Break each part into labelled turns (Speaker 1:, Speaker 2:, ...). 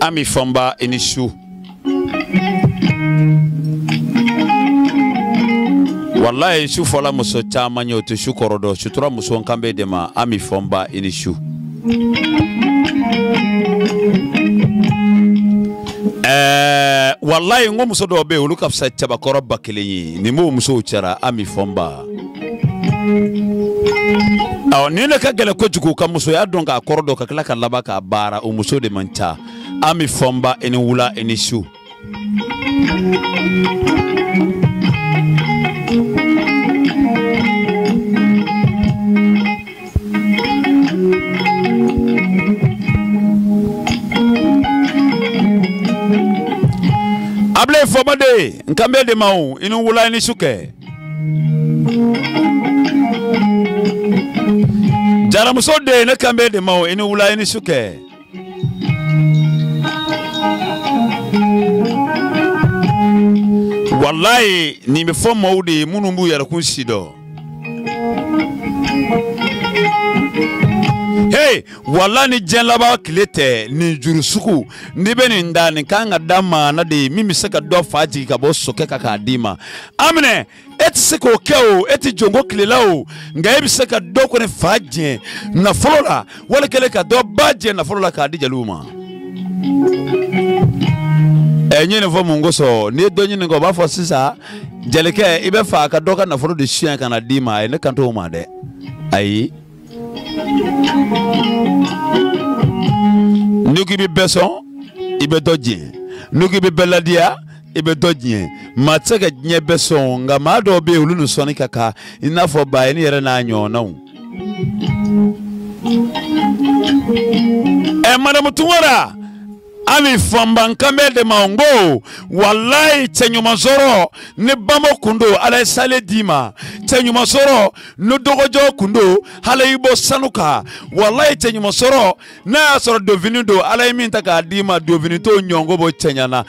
Speaker 1: ami fɔnba i ni su walayi su fɔla muso caman ye o tɛ su kɔrɔ dɔn sutura muso n kan b'e de ma ami fɔnba i ni su ɛɛ walayi n ko muso dɔw bɛ yen olu ka fisa cɛbakɔrɔ ba kelen ye nin b'o musow cɛra ami fɔnba ni ne ka gɛlɛn kojugu ka musoya dɔn k'a kɔrɔ dɔn ka tila ka laban k'a baara o muso de man ca ami fɔnba i ni wula i ni su abilayi fɔnba den n kan b'e de ma o i ni wula i ni su kɛ jaramuso den ne kan b'e de ma o i ni wula i ni su kɛ walayi nin bɛ fɔ maaw de ye minnu b'u yɛrɛkun si dɔn hey walayi ni diɲɛ laban tile tɛ nin juru sugu n'i bɛ nin da nin kan ka da maa na de min bɛ se ka dɔ fa jigin ka bɔ sokɛ kan k'a d'i ma aminɛ e tɛ se k'o kɛ o e tɛ jɔnko tile la o nka e bɛ se ka dɔ kɔni fa jɛn nafolo la wala kelen ka dɔ ba jɛn nafolo la k'a di jeliw ma. ɛ n ye nin fɔ mun kosɔn n'i ye dɔ ɲininka o b'a fɔ sisan jelikɛ i bɛ fɛ a ka dɔ ka nafolo de suɲɛ ka na d'i ma ayi ne kan t'o ma dɛ ayi. n'i ko i bɛ bɛɛ sɔn i bɛ dɔ jɛn n'i ko i bɛ bɛɛ ladiya i bɛ dɔ jɛn maa tɛ se ka diɲɛ bɛɛ sɔn nka maa dɔw bɛ yen olu ni sɔnni ka kan i n'a fɔ bayini yɛrɛ n'a ɲɔgɔnnaw. ɛ madamu tunkara. ami fɔnba n kan b'e de ma n ko walayi cɛɲuman sɔrɔ ni bamo kun don ala ye sale d'i ma cɛɲuman sɔrɔ ni dɔgɔjɔ kun don ala y'i bɔ sanu kan walayi cɛɲuman sɔrɔ n'a y'a sɔrɔ donfini don ala ye min ta k'a d'i ma donfini t'o ɲɔgɔn bɔ cɛɲa na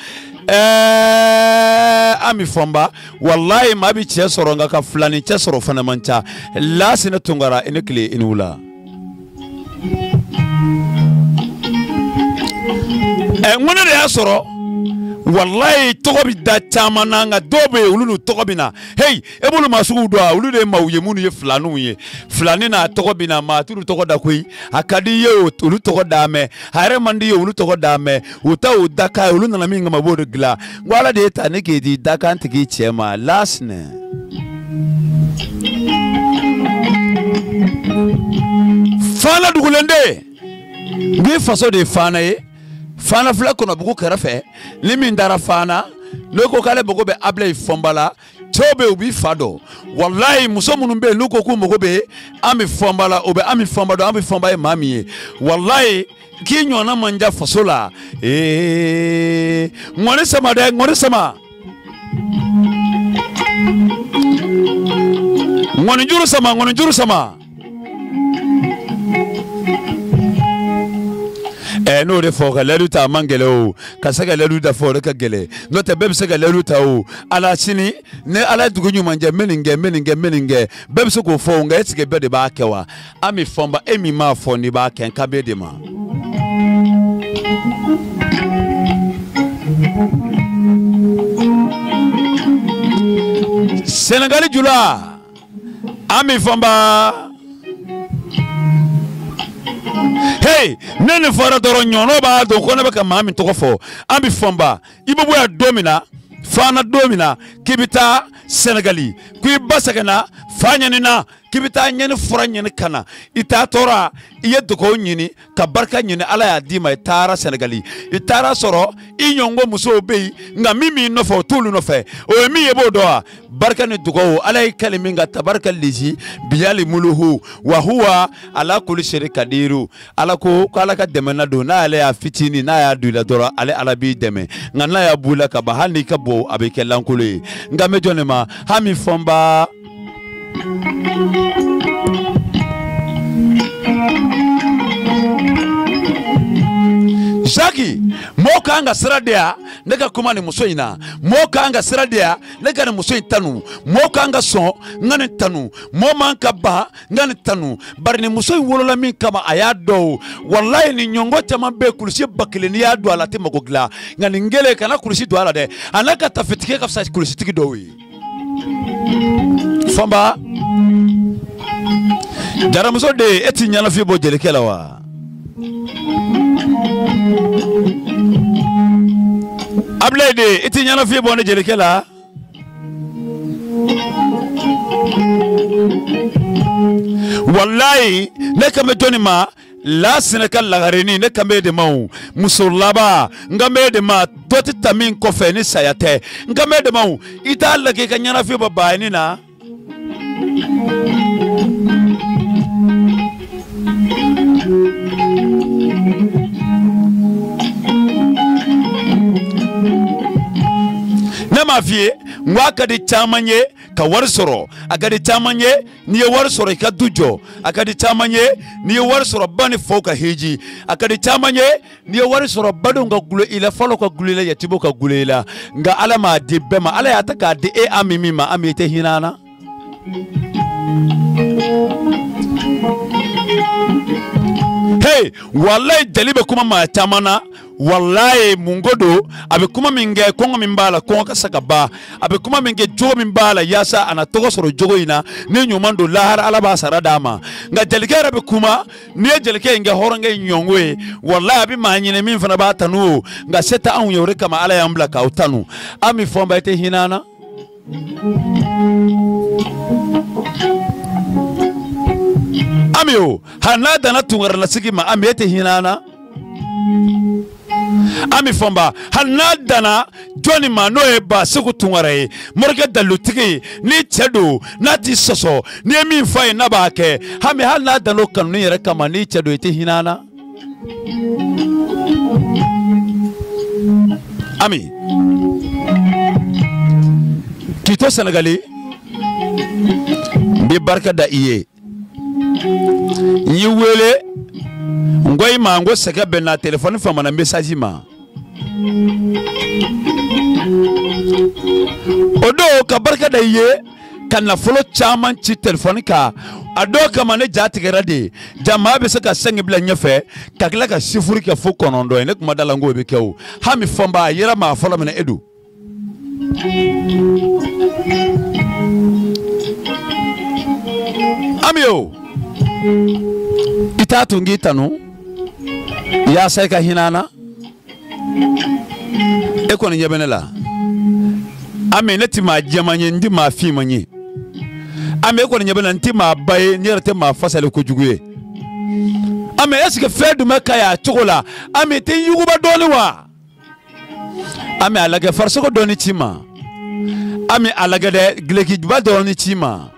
Speaker 1: ɛɛ eh, ami fɔnba walayi maa bi cɛ sɔrɔ nka ka filanin cɛ sɔrɔ fana man ca lasina tunkara i ni tile i ni wula ɛ n ko ne de y'a sɔrɔ walayi tɔgɔ bɛ da caman na nka dɔw bɛ yen olu n'u tɔgɔ bɛ na heyi e b'olu maa suguw dɔn wa olu de ye maaw ye minnu ye filaninw ye filanin n'a tɔgɔ bɛ na maa t'olu tɔgɔ da koyi a ka di i ye o- olu tɔgɔ da mɛ a yɛrɛ man di i ye olu tɔgɔ da mɛ u ta o dakan ye olu nana min kama b'o de dilan n ko ala de y'e ta ne k'e di dakan tigi cɛ ma lasinɛ fana dugulen de n ko i faso de ye fana ye fana filɛ kɔnɔbugu kɛrɛfɛ ni min taara fana n'o ko k'ale mago bɛ ablayi fɔnba la cɛw bɛ yen u b'i fa dɔn walayi muso minnu bɛ yen n'u ko k'u mago bɛ ami fɔnba la o bɛ ami fɔnba dɔn ami fɔnba ye maa min ye walayi k'i ɲɔgɔnna man ca faso la ee ŋɔni sama dɛ ŋɔni sama ŋɔnijuru sama ŋɔnijuru sama Eh, n'o de fɔ ka layidu ta a man gɛlɛ o ka se ka layidu dafa o de ka gɛlɛ n'o tɛ bɛɛ bɛ se ka layidu ta o ala sini ni ala ye dugu ɲuman jɛ n bɛ nin kɛ n bɛ nin kɛ n bɛ nin kɛ bɛɛ bɛ se k'o fɔ o nka est ce que bɛɛ de b'a kɛ wa Ami Fɔnba e min b'a fɔ n'i b'a kɛ n kan b'e de ma. Senegali jula. ami fɔnba hey ni nin fɔra dɔrɔn ɲɔnɔ b'a dɔn ko ne bɛ ka maa min tɔgɔ fɔ ami fɔnba i bɛ bɔ yan don min na fana don min na k'i bɛ taa sɛnɛgali ko i ba sɛgɛnna fa ɲanina k'i bɛ taa ɲani fura ɲini ka na i taatɔla i ye dugawu ɲini ka barika ɲini ala y'a d'i ma i taara sɛnɛgali i taar'a sɔrɔ i ɲɔngo musow bɛ yen nka min b'i nɔfɛ o t'olu nɔfɛ o ye min ye e b'o dɔn wa barika ni dugawu ala y'i kali min kan tabarika lezi biyali muluhu wa huwa ala kuli seri kadiru ala ko ko ala ka dɛmɛnan don n'ala y'a fitinin n'a y'a don i la dɔrɔn ale ala b'i dɛmɛ nka n'a y'a b'u la ka ban hali n'i ka bon a bɛ kɛ lankolo ye n kan bɛ jɔn de ma ami fɔnba zaki mɔɔ ka kan ka sira di yan ne ka kuma nin muso in na mɔɔ ka kan ka sira di yan ne ka nin muso in tanu mɔɔ ka kan ka sɔn n ka nin tanu mɔɔ man ka ban n ka nin tanu bari nin muso in wolola min kama a y'a dɔn o walayi nin ɲɔngɔ caman bɛ kulusiba kelen n'i y'a don a la a tɛ mago dilan nka nin kelen kana kulusi don a la dɛ a n'a ka tafetigi ka fisa kulusitigi dɔw ye fɔnba jaramuso de e ti ɲɛnafin bɔ jelikɛ la wa abilayi de i ti ɲɛnafin bɔ ne jelikɛ la walayi ne kan bɛ jɔnni ma lasinɛ ka lagarenin ne kan bɛ de ma o muso laban n kan bɛ de ma dɔ tɛ ta min kɔfɛ ni saya tɛ n kan bɛ de ma o i t'a lajɛ i ka ɲɛnafin bɔ baayini na. ne m'a f'i ye n ko a ka di caman ye ka wari sɔrɔ a ka di caman ye n'i ye wari sɔrɔ i ka du jɔ a ka di caman ye n'i ye wari sɔrɔ ba ni faw ka hiji a ka di caman ye n'i ye wari sɔrɔ badenw ka gulo i la falaw ka gulo i la yatimuw ka gulo i la nka ala m'a di bɛɛ ma ala y'a ta k'a di e ami min ma ami i tɛ hinɛ an na hey walayi jali bɛ kuma maa caman na walayi mun ko don a bɛ kuma min kɛ kɔngɔ min b'a la kɔngɔ ka se ka ban a bɛ kuma min kɛ jogo min b'a la yaasa a na tɔgɔ sɔrɔ jogo in na ni ɲuman don lahara ala b'a sara d'a ma nka jelikɛ yɛrɛ bɛ kuma n'i ye jelikɛ in kɛ hɔrɔnkɛ in ɲɔgɔn ye walayi a bɛ maa ɲini min fana b'a tanu o nka se tɛ anw ye o de kama ala y'an bila k'aw tanu ami fɔnba i tɛ hinɛ an na ami o hali n'a danna tunkarala sigi ma ami e tɛ hinɛ an na ami fɔnba hali n'a danna jɔnni ma n'o ye baseku tunkara ye morikɛ dalilutigi n'i cɛ don n'a t'i sɔsɔ n'i ye min fɔ a ye n'a b'a kɛ ami hali n'a danna o kanuni yɛrɛ kama n'i cɛ don i tɛ hinɛ an na Ami k'i to Sɛnɛgali n bɛ barika da i ye n y'i wele n ko i ma n ko sɛgɛn bɛ n na telefɔni famana mesaji ma o don ka barika da i ye ka nafolo caman ci telefɔni kan a dɔw kama ne ja tigɛra dɛ jaa maa bɛ se ka sɛnki bila ɲɛfɛ ka tila ka sifuru kɛ fo kɔnɔntɔn ye ne kuma da la n k'o bɛ kɛ o ami fɔnba a yera maa fɔlɔ min na e don ami o i t'a to n k'i tanu yaasa i ka hinɛ an na e kɔni ɲɛ bɛ ne la ami ne tɛ maa jɛman ye n tɛ maa finman ye ami e kɔni ɲɛ bɛ ne la n tɛ maa ba ye ne yɛrɛ tɛ maa fasalen kojugu ye ami est ce que fɛn dun bɛ ka y'a cogo la ami i tɛ n yuguba dɔɔni wa ami a lajɛ farisogo dɔɔni ci n ma ami a lajɛ dɛ gileki juba dɔɔni ci n ma.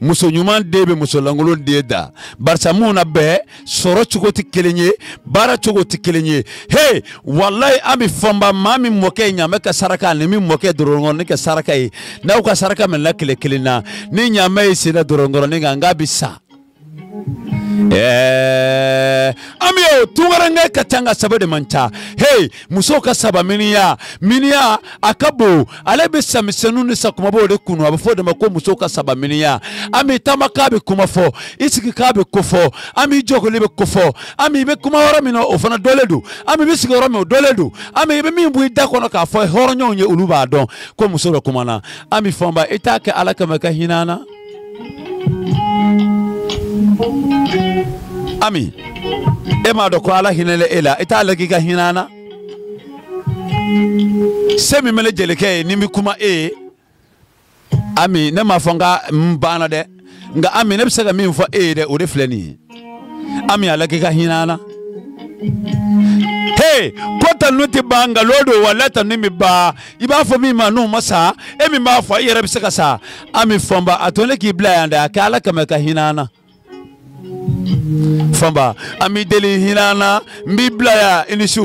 Speaker 1: muso ɲuman den bɛ musolankolon den dan barisa mun na bɛɛ sɔrɔ cogo tɛ kelen ye baara cogo tɛ kelen ye he walayi ami fɔnba maa min mɔkɛ ye ɲaamɛ ka saraka ani min mɔkɛ dɔrɔnkɔrɔnin ka saraka ye n'aw ka saraka minɛla kɛnɛ kelen na ni ɲaamɛ y'i sen na dɔrɔnkɔrɔnin kan n k'a bɛ sa. Eh, ami o tunkaranke ka ca nka saba de man ca hey musow ka saba miniyan miniyan a ka bon ale bɛ sa misɛnninw ni sa kumabaw de kunu a bɛ fɔ o de ma ko muso ka saba miniyan ami i taamakan bɛ kuma fɔ i sigikan bɛ ko fɔ ami i jɔkoli bɛ ko fɔ ami i bɛ kuma yɔrɔ min na o fana dɔnlen don ami i bɛ sigi yɔrɔ min o dɔnlen don ami i bɛ min bɔ i da kɔnɔ k'a fɔ hɔrɔnɲɔgɔnw ye olu b'a dɔn ko muso dɔ kumana ami fɔnba i t'a kɛ ala kama ka hinɛ an na ami e m'a dɔn ko ala hinɛla e la i t'a lagɛ ka hinɛ an na se min bɛ ne jelikɛ ye ni n bɛ kuma e ye ami ne m'a fɔ n ka n banna dɛ nka ami ne bɛ se ka min fɔ e ye dɛ o de filɛ nin ye ami a lagɛ ka hinɛ an na he ko tanu tɛ ban nka lon dɔ walayi tanu bɛ ban i b'a fɔ min ma n'o ma sa e min b'a fɔ i yɛrɛ bɛ se ka sa ami fɔnba a to ne k'i bila yan dɛ a kɛ ala kama ka hinɛ an na fɔnba an b'i deli hinɛ an na n b'i bila yan i ni su